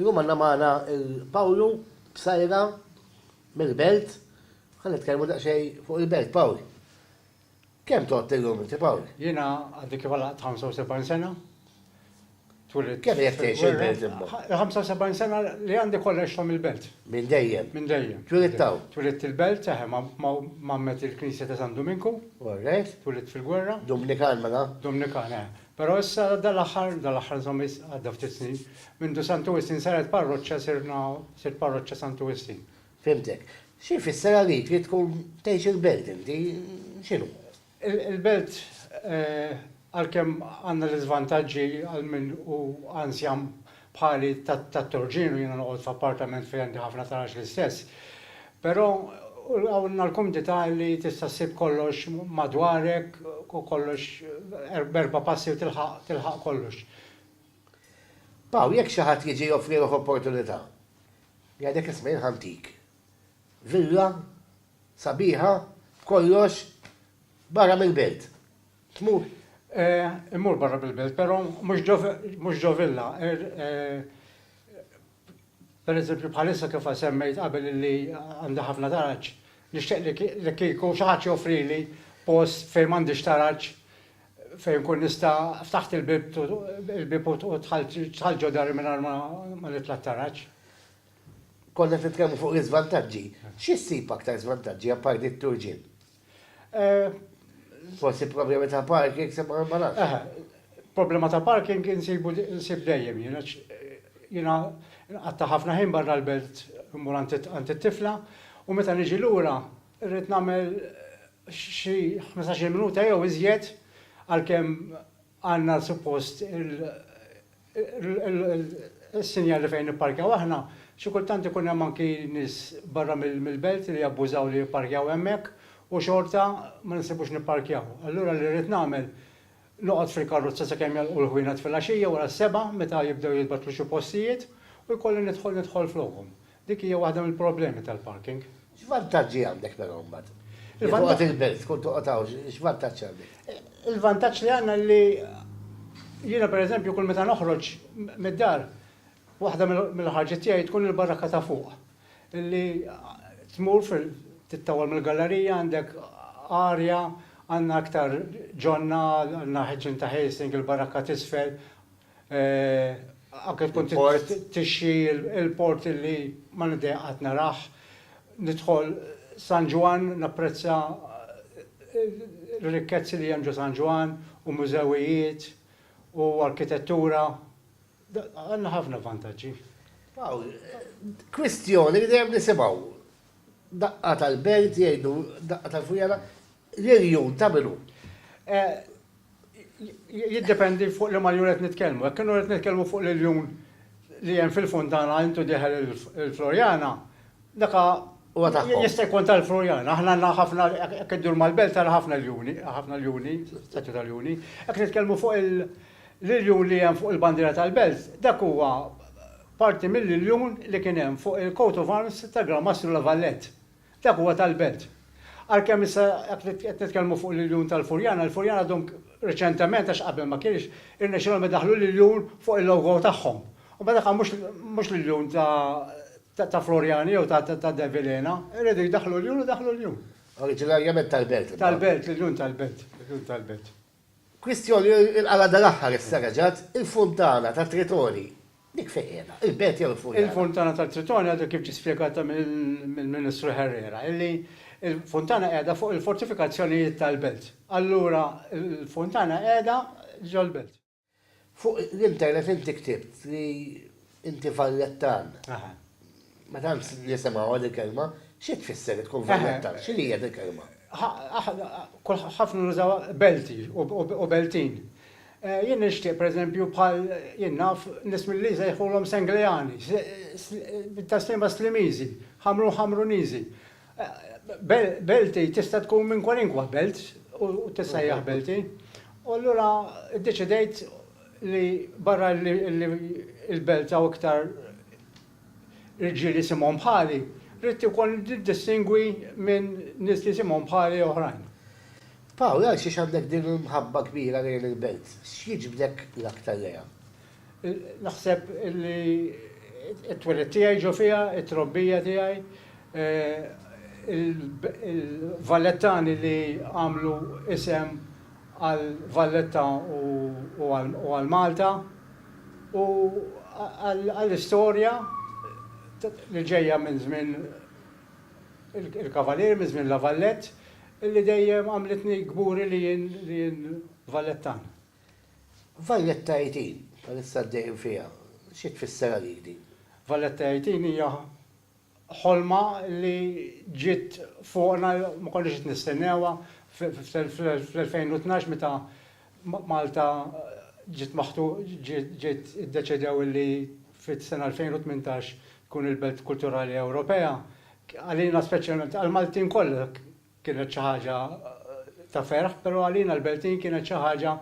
Illum għandna magħna il-Pawlu Psajra mill-Belt. Ħan nitkellmu daqsxejn fuq il-Belt, Pawl. Kemm tot illum inti, Pawl? Jiena għaddi kif għal 75 sena. Twilid. Kemm jekk tgħix il-Belt imma? 75 sena li għandi kollox ta' mill-Belt. Minn dejjem. Minn dejjem. Twilid taw? Twilid il-Belt, eħe, mammet il-Knisja ta' San Duminku. Alright. Twilid fil-gwerra. Dominikan mela? Dominikan, eħe. Però issa dal-aħħar, dal-aħħar insomma għadda ftit snin, mindu Santu Wistin saret parroċċa sirna, sirt parroċċa Santu Wistin. Fhimtek. Xi jfisser għalik li tkun tgħix il-belt inti? X'inhu? Il-belt għalkemm għandna l-iżvantaġġi għal min hu anzjan bħali tat-Torġinu, jiena noqgħod f'appartament fejn għandi ħafna taraġ l-istess. Però hawn l-kumdità li tista' ssib kollox madwarek u kollox b'erba' passi u tilħaq tilħaq kollox. Paw, jekk xi ħadd jiġi joffrilok opportunità, jgħidlek isma' jien ħantik villa sabiħa b'kollox barra mill-belt. Tmur, eh, immur barra mill-belt, però mhux ġo, mhux ġo villa, er, eh, pereżempju bħalissa kif semmejt qabel li għandi ħafna taraġ, nixtieq li, li kieku xi ħadd joffrili post fejn m'għandix taraġ, fejn nkun nista' ftaħt il-bieb, il-bieb u dħalt, dħalt ġo dari mingħajr ma, ma nitla' t-taraġ. Konna qed nitkellmu fuq l-iżvantaġġi. Xi ssib aktar żvantaġġi apparti t-turġien? Forsi problemi ta' parking se ma narax. Problema ta' parking insibu nsib dejjem jien għax jiena nqatta' ħafna ħin barra l-belt immur għand it-tifla u meta niġi lura rrid nagħmel xi ħmistax-il minuta jew iżjed għalkemm Għandna suppost il-sinjali fejn nipparkjaw aħna. Xi kultant ikun hemm anki nies barra mill-belt li jabbużaw li jipparkjaw hemmhekk u xorta ma nissibux nipparkjaw. Allura li rrid nagħmel, noqgħod fil-karrozza sakemm jagħlqu l-ħwienet filgħaxija wara s-sebgħa meta jibdew jitbattlu xi postijiet u jkolli nidħol nidħol flokhom. Dik hija waħda mill-problemi tal-parking. X'vantaġġi għandek però mbagħad? Jekk toqgħod il-belt, tkun toqgħod hawn, x'vantaġġ għandek? Il-vantaġġ li għandna li jiena pereżempju kull meta noħroġ mid-dar, waħda mill-ħarġiet tiegħi tkun il-barakka ta' fuq. Li tmur fil tittawwal mill-gallerija għandek arja, għandna aktar ġonna, għandna ħġin ta' ħelsing, il-barakka t'isfel, Anke tkun tixxi l-port li ma nidejjaq qatt narah. Nidħol San Ġwann napprezza r-rikkezzi li hemm ġo San Ġwann u mużewijiet u arkitettura. Għandna ħafna vantaġġi. Kwistjoni li dejjem nisimgħu. Daqqa tal-belt jgħidu, daqqa tal-fujjana. L-irjun ta' min hu? Jiddependi fuq liema rjun qed nitkellmu. Jekk kienu qed nitkellmu fuq l-irjun li hemm fil-Funtana intu dieħel il-Floriana, dak jista' jkun tal-Floriana. Aħna għandna ħafna, jekk iddur mal-belt tara ħafna rjuni, ħafna rjuni, statwi ta' rjuni. Jekk nitkellmu fuq l-irjun li hemm fuq il-bandiera tal-belt, dak huwa parti mill-irjun li kien hemm fuq il-coat of arms ta' Gran Mastru La Valette. Dak huwa tal-Belt. Għalkemm issa jekk qed nitkellmu fuq l-iljun tal-Furjana, il-Furjana għadhom reċentement, għax qabel ma kienx, irnexxielhom idaħħlu l-iljun fuq il-logo tagħhom. Imma dak mhux l-iljun ta' Florjani jew ta' De Vilhena. Iridu jdaħħlu l-iljun, idaħħlu l-iljun. Oriġinarjament tal-Belt. Tal-Belt, l-iljun tal-Belt. L-iljun tal-Belt. Kwistjoni il-qala' dal-aħħar issa reġgħet, il-funtana tat-Tritoni, dik fejn qiegħda? Il-belt jew il-funtana? Il-funtana tat-Tritoni għadu kif ġie spjegat mill-Ministru Herrera, illi l-funtana qiegħda fuq il-fortifikazzjonijiet tal-belt. Allura l-funtana qiegħda ġol-belt. Fuq l-internet inti ktibt li inti vallettan. Ma tantx nisimgħuha dil-kelma. Xi tfisser li tkun vallettan? X'inhi hija dil-kelma? Ħafna nużawha belti u beltin. Jien nixtieq pereżempju bħal jien naf nies mill-Għli jsejħulhom Sengleani, bit-taslima Slimiżi, Ħamrun Ħamruniżi. Belti tista' tkun minn kwalinkwa belt u tissejjaħ Belti. U allura iddeċidejt li barra li l-belt hawn iktar irġiel jisimhom bħali, ridt ukoll niddistingwi minn nies li jisimhom bħali oħrajn. Paul, għalxiex għandek din il-mħabba kbira lejn il-belt? X'jiġbdek l-aktar lejha? Naħseb li t-twelid tiegħi ġo fiha, it-trobbija tiegħi, il-Vallettani li għamlu isem għal Valletta u għal Malta u għall-istorja li ġejja minn żmien il-Kavalieri, minn żmien La Vallette, li dejjem għamlitni kburi li jien Vallettan. Valletta Eighteen, bħalissa għaddejjin fiha, xi tfisser għalik din? Valletta Eighteen hija ħolma li ġiet fuqna, ma konniex qed nistennewha, fl-2012 meta Malta ġiet ġiet iddeċedew li fis-sena 2018 tkun il-Belt Kulturali Ewropea, għalina speċjalment, għall-Maltin kollha, Kienet xi ħaġa ta' ferħ, però għalina l-Beltin kienet xi ħaġa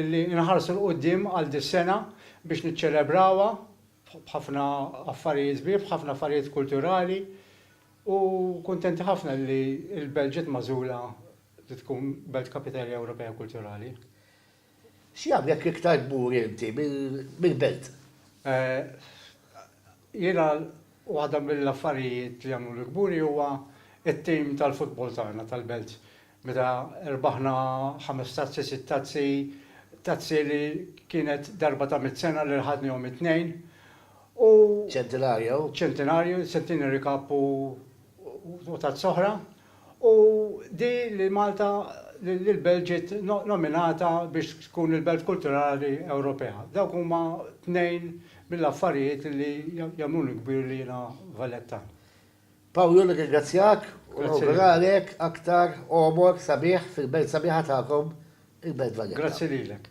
li nħarsu 'l quddiem għal dis-sena biex niċċelebrawha b'ħafna affarijiet sbieħ, b'ħafna affarijiet kulturali u kuntenti ħafna li l-Belt ġiet magħżula li tkun Belt Kapitali Ewropea Kulturali. X'jagħmlek iktar kburi inti mill-belt? Jiena waħda mill-affarijiet li jagħmluni kburi huwa t-tim tal-futbol tagħna tal-belt. Meta rbaħna ħames tazzi, sitt tazzi, tazzi li kienet darba ta' mitt sena li rħadnihom it-tnejn u. Centenario. Centenario, Centenary Cup u tazza oħra. U di li Malta, li l-Belt ġiet nominata biex tkun il-Belt Kulturali Ewropea. Dawk huma tnejn mill-affarijiet li jagħmluni kbir li jiena Valettan. Pawlu, nirringrazzjak u nawguralek aktar għomor sabiħ fil-Belt sabiħa tagħkom, il-Belt Valletta. Grazzi lilek.